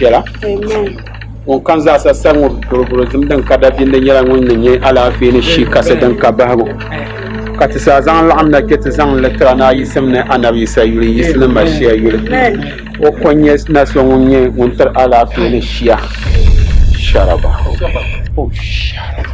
Piɛla. Ŋun kam zaasa sari ŋɔ boroborozim din ka dabiindi nyɛla ŋun ni nyɛ alaafee ni shii kasi din ka bahigu. Ka ti saa zaŋ laɣim na kpe ti zaŋ li tira naa yisim ni Annabi Yisa yuli yisi ni Mashia yuli. O ko n-nyɛ na so ŋun nyɛ ŋun tiri alaafee ni shia. Sharaba. O sharaba.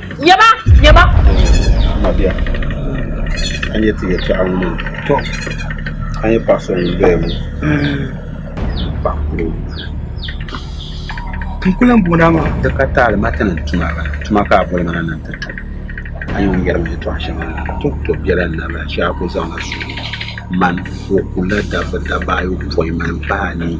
Nya ba! Nya ba! Mabia, a nya ti yɛtɔɣa ŋɔ maa? Tɔ! A nya paɣ so ŋun doya ŋɔ? Paɣ kul o. N ku lan booni a maa. Di ka taali ma ti niŋ tuma la. Tuma ka a boli ma na ni n ti tum. A nya o ni yɛri ma yɛtɔɣ shɛŋa la? Tɔ! Tɔ biɛla n naba shee a ku zaŋla suhuri man o ku la dabba dabaayopoin mani paai anii.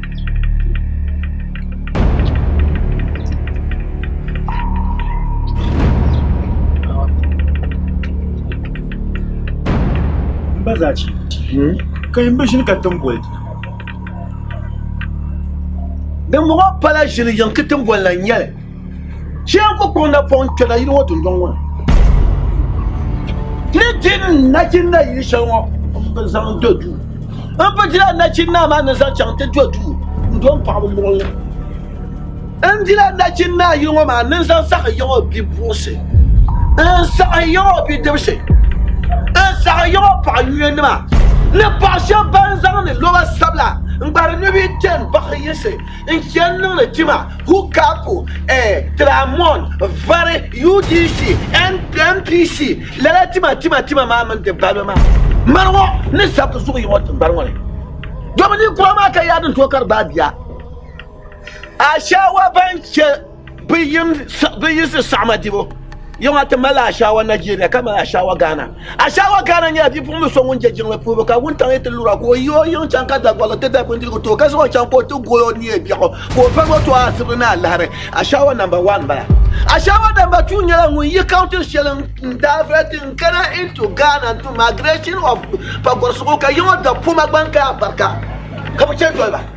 ba zaa ci ka yimba ʒini ka tin boli din bɔŋɔ pala ʒili yiŋ ka tin boli la n nyɛli Chɛligu kpaŋ na pɔŋ kpɛla yili ŋɔ dundɔŋ ŋɔ ni ni di nachinna yili shɛli ŋɔ m-bi zaŋ do duu m-bi dila nachinna maa ni zaŋ chaŋ ti do duu n-do m paɣaba luɣili n dila nachinna yili ŋɔ maa ni n zaŋ saɣi yiɣi o bipuɣinsi n saɣi yiɣi o bidibisi n saɣi yiɣi o paɣa yuya nima ni paɣ shɛba ban zaŋdi loba sabila n gbahiri ni bɛ yi kpɛm bahi yiɣisi n chɛ niŋdi tima hukapu eh, tiramɔn, vari, UDC, NPC, lala tima tima tima maa mini di balibu maa mani ŋɔ ni sabbu zuɣu yiŋɔ tiŋgbani ŋɔ ni. Domin ninkura maa ka yaadi n-tooi kari bɛ a bia Ashawa ban chɛ bi yiɣisi saɣama dibu yɛŋ a ti mali Ashawa Nigeria ka mali Ashawa Ghana Ashawa Ghana nyɛla bipuɣimbili so ŋun je jiŋli puhibu ka wuntaŋ yi ti lura ka o yi o yiŋ chaŋ ka Dagbaɣili ti da bindirigu ti o ka zaŋ o chaŋ ka o ti gol o ni yɛn biɛɣu ka o pari o tɔha asibi ni alahiri Ashawa namba wan m-bala Ashawa namba tuu nyɛla ŋun yi kaunti shɛli n daa vili ti n-kana into Ghana n-tu migration of pagɔrisigu ka yiŋ o da poma gbankaya barika ka bi chɛ doli ba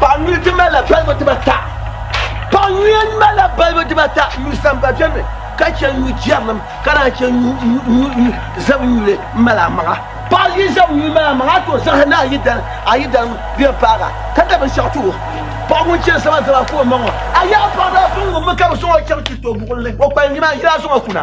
Paɣa nyuya ti malila balibu dibata. Paɣa nyuya malila balibu dibata, nyu samba beni ka che nyu jɛrilim ka naan che nyu zab nyuli m-mali amaŋa. Paɣa yi zab nyuli mali amaŋa a tooi zaŋ ni a yi dalim a yi dalim di yɛn paagi a ka da binshɛɣu ti o. Paɣa ŋun chani zaba zaba ka o maŋ o, a yaɣi paɣa daa suŋ ŋun mi ka bi zaŋ o chaŋ Chirito buɣim ni o kpalim ni maa yili a zaŋ o kuna.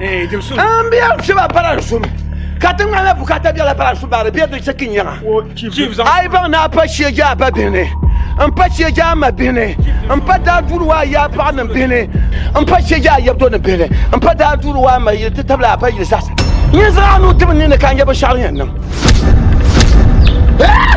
Eh, jim sun. An bi yan fiba para sun. Ka ti ŋmanila bukata biɛla para sun baari bɛ di chɛ ki nyaŋa. Wo chief. Chief zaŋ. Ai baŋ na pa shie ja ba bihini. N pa shie ja ma bihini. N pa daa duuri waa ya paɣa ni bihini. N pa shie ja yabdo ni bihini. N pa daa duuri waa ma yili ti tabila a pa yili zaɣasa. Nyin zaɣa nu tibi ni ni ka n yɛ binshaɣu yɛn niŋ. Eh!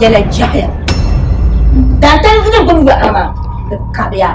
Yɛla jɛhiya. Daantali n nyɛ gbubi yɔɣu maa di kabiya.